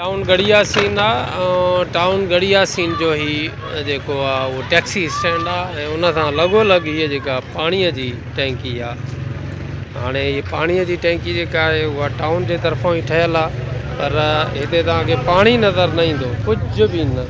Town Garhi Yasin آ ۽ town Garhi Yasin جو هي جيڪو آ اهو ٽيڪسي اسٽينڊ آ ۽ ان سان لڳو لڳ هي جيڪا پاڻي جي ٽينڪي آ هاڻي هي پاڻي جي ٽينڪي جيڪا آهي اها ٽائون جي طرفان ئي ٺهيل آ پر هتي توهان کي پاڻي نظر نه ايندو ڪجهه به نه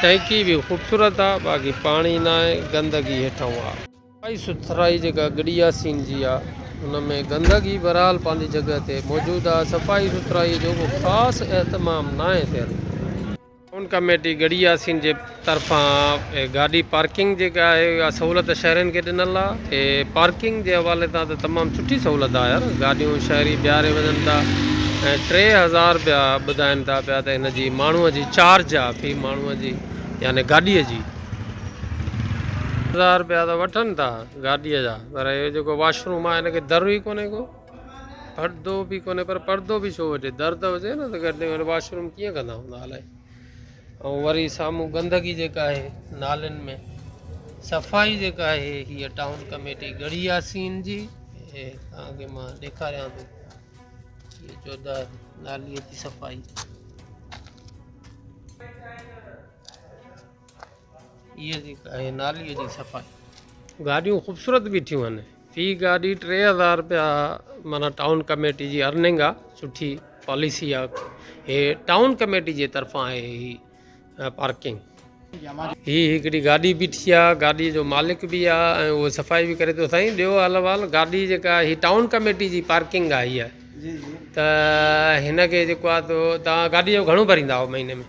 ٽئنڪي به خوبصورت آ باقي پاڻي ناهي گندگي هيٺئون آ. صفائي سٿرائي جيڪا گڙي ياسين جي آ ان ۾ گندگي بهرحال پنهنجي جڳهه تي موجود آ صفائي سٿرائي جو ڪو خاص اهتمام ناهي ٿيل. ٽائون ڪميٽي گڙي ياسين جي طرفان گاڏي پارڪنگ جيڪا آهي اها سهولت شهرين کي ڏنل آ. اتي پارڪنگ جي حوالي تان ته تمام سٺي سهولت آهي يار گاڏيون شهري بيهاري وڃن ٿا ۽ ٽي هزار رپيا ٻڌائن ٿا پيا ته هن جي ماڻهوء جي چارج آهي في ماڻهوء جي يعني گاڏيء جي هزار رپيا ته وٺن ٿا گاڏيء جا پر اهو جيڪو واش روم آهي هن کي در ئي ڪونهي ڪو پڙدو به ڪونهي پر پڙدو به ڇو وٺي در ته هجي نه ته گڏ واش روم ڪيئن ڪندا هوندا الائي ۽ وري سامهون گندگي جيڪا آهي نالين ۾ صفائي جيڪا آهي هيء ٽائون ڪميٽي ڳڙهي ياسين جي هي توهان کي مان ڏيکاريان ٿو هيء چوڌار ناليء جي صفائي هيء جيڪا آهي ناليء جي صفائي گاڏيون خوبصورت بيٺيون آهن في گاڏي ٽي هزار رپيا معنيٰ ٽائون ڪميٽي جي ارننگ آ سٺي پاليسي آ هي ٽائون ڪميٽي جي طرفان آهي هي پارڪنگ هي هڪڙي گاڏي بيٺي آ گاڏي جو مالڪ به آ ۽ اهو صفائي به ڪري ٿو سائين ڏيو احلوال گاڏي جيڪا هي ٽائون ڪميٽي جي پارڪنگ آ هيء ته هن کي جيڪو آ تو تان گاڏي جو گهڻو ڀريندا آهو مهيني ۾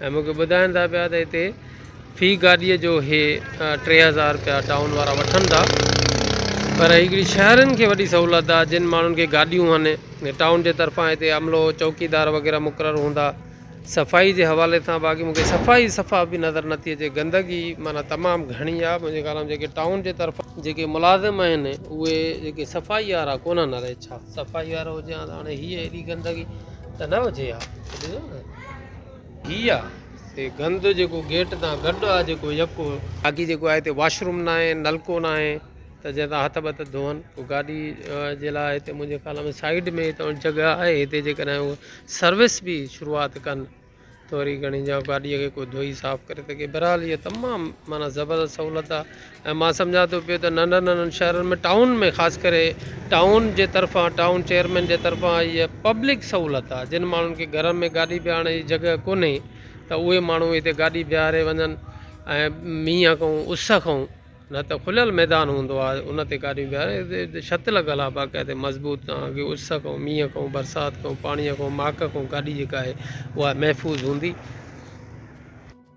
۽ مون کي ٻڌائين ٿا پيا ته هتي في گاڏيء جو هي ٽي هزار رپيا ٽائون وارا وٺن ٿا پر هڪڙي شهرين کي وڏي سهولت آهي جن ماڻهن کي گاڏيون هن ٽائون جي طرفان هتي عملو چوڪيدار وغيره مقرر هوندا صفائي جي حوالي سان باقي مون کي صفائي صفا به نظر نه ٿي اچي گندگي معنيٰ تمام گهڻي آهي منهنجي خيال ۾ جيڪي ٽائون جي طرفان جيڪي ملازم آهن اهي جيڪي صفائي وارا ڪونهن الائي ڇا صفائي وارو هجي ها ته هاڻي هيء هيڏي گندگي ته نه هجي ها هي آ تي گند جيڪو گيٽ تان گڏ آ جيڪو يڪو. باقي جيڪو آهي هتي واشروم ناهي نلڪو ناهي ته جنهن تان هٿ بٿ ڌون ڪو گاڏي جي لاء هتي منهنجي خيال ۾ سائيڊ ۾ ته جڳهه آهي هتي جيڪڏهن هو سروس به شروعات ڪن ته وري گهڻي جا گاڏي کي ڪو ڌوئي صاف ڪري ته ڪي بهرحال هي تمام معنيٰ زبردست سهولت آ ۽ مان سمجهان ٿو پيو ته ننڍن ننڍن شهرن ۾ ٽائون ۾ خاص ڪري ٽائون جي طرفان ٽائون چيئرمين جي طرفان هيء پبلڪ سهولت آهي جن ماڻهن کي گهرن ۾ گاڏي بيهارڻ جي جڳهه ڪونهي ته اهي ماڻهو هتي گاڏي بيهاري وڃن ۽ مينهن کان اس کان نه ته کليل ميدان هوندو آهي ان تي گاڏيون بيهاري هتي ڇت لڳل آهي باقاعدي مضبوط تانڪي اس کان مينهن کان برسات کان پاڻيء کان ماڪ کان گاڏي جيڪا آهي اها محفوظ هوندي